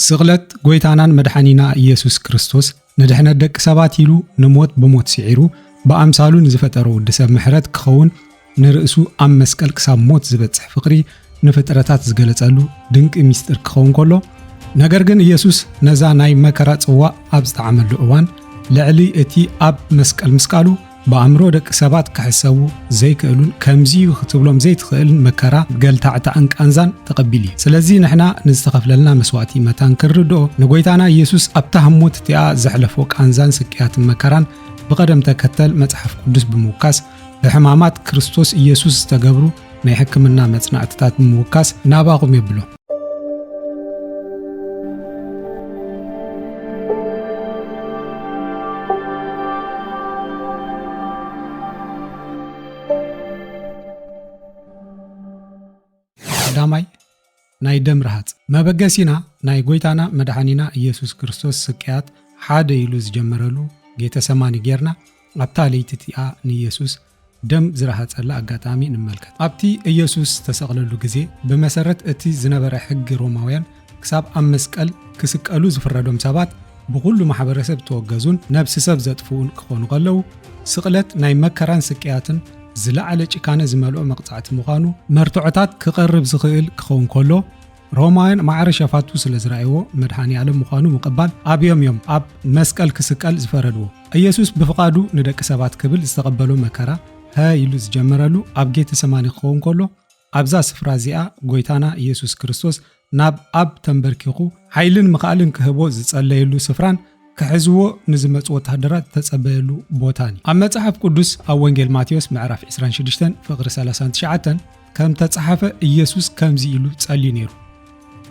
ስቕለት ጎይታናን መድሓኒና ኢየሱስ ክርስቶስ ንድሕነት ደቂ ሰባት ኢሉ ንሞት ብሞት ስዒሩ ብኣምሳሉ ንዝፈጠሮ ወዲ ሰብ ምሕረት ክኸውን ንርእሱ ኣብ መስቀል ክሳብ ሞት ዝበጽሕ ፍቕሪ ንፍጥረታት ዝገለጸሉ ድንቂ ምስጢር ክኸውን ከሎ ነገር ግን ኢየሱስ ነዛ ናይ መከራ ጽዋእ ኣብ ዝጠዓመሉ እዋን ልዕሊ እቲ ኣብ መስቀል ምስቃሉ ብኣእምሮ ደቂ ሰባት ክሕሰቡ ዘይክእሉን ከምዚዩ ክትብሎም ዘይትኽእልን መከራ፣ ገልታዕታዕን ቃንዛን ተቐቢሉ እዩ። ስለዚ ንሕና ንዝተኸፍለልና መስዋእቲ መታን ክንርድኦ፣ ንጎይታና ኢየሱስ ኣብታ ህሞት እቲኣ ዘሕለፎ ቃንዛን ስቅያትን መከራን ብቐደም ተከተል መጽሓፍ ቅዱስ ብምውካስ ብሕማማት ክርስቶስ ኢየሱስ ዝተገብሩ ናይ ሕክምና መጽናዕትታት ብምውካስ ናባኹም የብሎ። ቀዳማይ ናይ ደም ረሃፅ መበገሲና ናይ ጎይታና መድሓኒና ኢየሱስ ክርስቶስ ስቅያት ሓደ ኢሉ ዝጀመረሉ ጌተሰማኒ ጌርና ኣብታ ለይቲ እቲኣ ንኢየሱስ ደም ዝረሃጸላ ኣጋጣሚ ንመልከት። ኣብቲ ኢየሱስ ዝተሰቕለሉ ግዜ፣ ብመሰረት እቲ ዝነበረ ሕጊ ሮማውያን፣ ክሳብ ኣብ መስቀል ክስቀሉ ዝፍረዶም ሰባት ብኹሉ ማሕበረሰብ እተወገዙን ነብሲ ሰብ ዘጥፍኡን ክኾኑ ከለዉ፣ ስቕለት ናይ መከራን ስቅያትን ዝለዓለ ጭካነ ዝመልኦ መቕጻዕቲ ምዃኑ መርትዖታት ክቐርብ ዝኽእል ክኸውን ከሎ፣ ሮማውያን ማዕረ ሸፋቱ ስለ ዝረኣይዎ መድኃኔ ዓለም ምዃኑ ምቕባል ኣብዮም እዮም ኣብ መስቀል ክስቀል ዝፈረድዎ። ኢየሱስ ብፍቓዱ ንደቂ ሰባት ክብል ዝተቐበሎ መከራ ሀ ኢሉ ዝጀመረሉ ኣብ ጌተ ሰማኒ ክኸውን ከሎ ኣብዛ ስፍራ እዚኣ ጐይታና ኢየሱስ ክርስቶስ ናብ ኣብ ተንበርኪኹ ኃይልን ምኽኣልን ክህቦ ዝጸለየሉ ስፍራን ክሕዝዎ ንዝመጹ ወተሃደራት ዝተጸበየሉ ቦታን እዩ። ኣብ መጽሓፍ ቅዱስ ኣብ ወንጌል ማቴዎስ ምዕራፍ ዕስራን ሽዱሽተን ፍቕሪ ሰላሳን ትሽዓተን ከም ተጸሓፈ ኢየሱስ ከምዚ ኢሉ ጸልዩ ነይሩ፣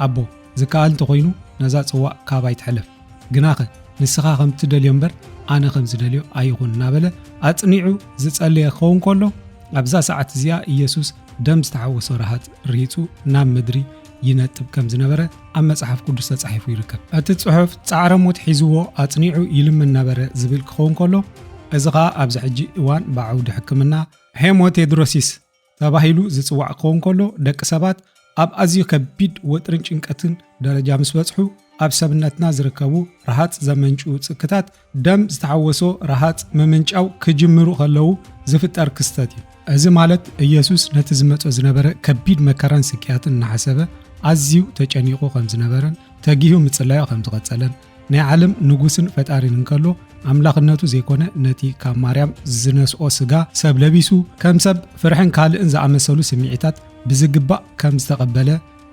ኣቦ፣ ዝከኣል እንተ ዀይኑ ነዛ ጽዋእ ካባይ ትሕለፍ፣ ግናኸ ንስኻ ከም እትደልዮ እምበር ኣነ ከም ዝደልዮ ኣይኹን እናበለ ኣጽኒዑ ዝጸለየ ክኸውን ከሎ፣ ኣብዛ ሰዓት እዚኣ ኢየሱስ ደም ዝተሓወሶ ረሃጽ ርሂጹ ናብ ምድሪ ይነጥብ ከም ዝነበረ ኣብ መጽሓፍ ቅዱስ ተጻሒፉ ይርከብ። እቲ ጽሑፍ ጻዕረ ሞት ሒዝዎ ኣጽኒዑ ይልምን ነበረ ዝብል ክኸውን ከሎ እዚ ኸኣ ኣብዚ ሕጂ እዋን ብዓውዲ ሕክምና ሄሞቴድሮሲስ ተባሂሉ ዝጽዋዕ ክኸውን ከሎ ደቂ ሰባት ኣብ ኣዝዩ ከቢድ ወጥርን ጭንቀትን ደረጃ ምስ በጽሑ ኣብ ሰብነትና ዝርከቡ ረሃጽ ዘመንጩ ጽክታት ደም ዝተሓወሶ ረሃጽ ምምንጫው ክጅምሩ ከለዉ ዝፍጠር ክስተት እዩ። እዚ ማለት ኢየሱስ ነቲ ዝመጾ ዝነበረ ከቢድ መከራን ስቅያትን እናሓሰበ ኣዝዩ ተጨኒቑ ከም ዝነበረን ተጊሁ ምጽላዮ ከም ዝቐጸለን ናይ ዓለም ንጉስን ፈጣሪን እንከሎ ኣምላኽነቱ ዘይኮነ ነቲ ካብ ማርያም ዝነስኦ ስጋ ሰብ ለቢሱ ከም ሰብ ፍርሕን ካልእን ዝኣመሰሉ ስምዒታት ብዝግባእ ከም ዝተቐበለ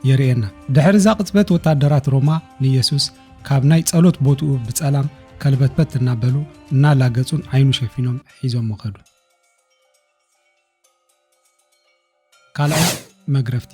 የርእየና። ድሕሪ እዛ ቅጽበት ወታደራት ሮማ ንኢየሱስ ካብ ናይ ጸሎት ቦትኡ ብጸላም ከልበትበት እናበሉ እናላገጹን ዓይኑ ሸፊኖም ሒዞሞ ከዱ። ካልኣይ መግረፍቲ።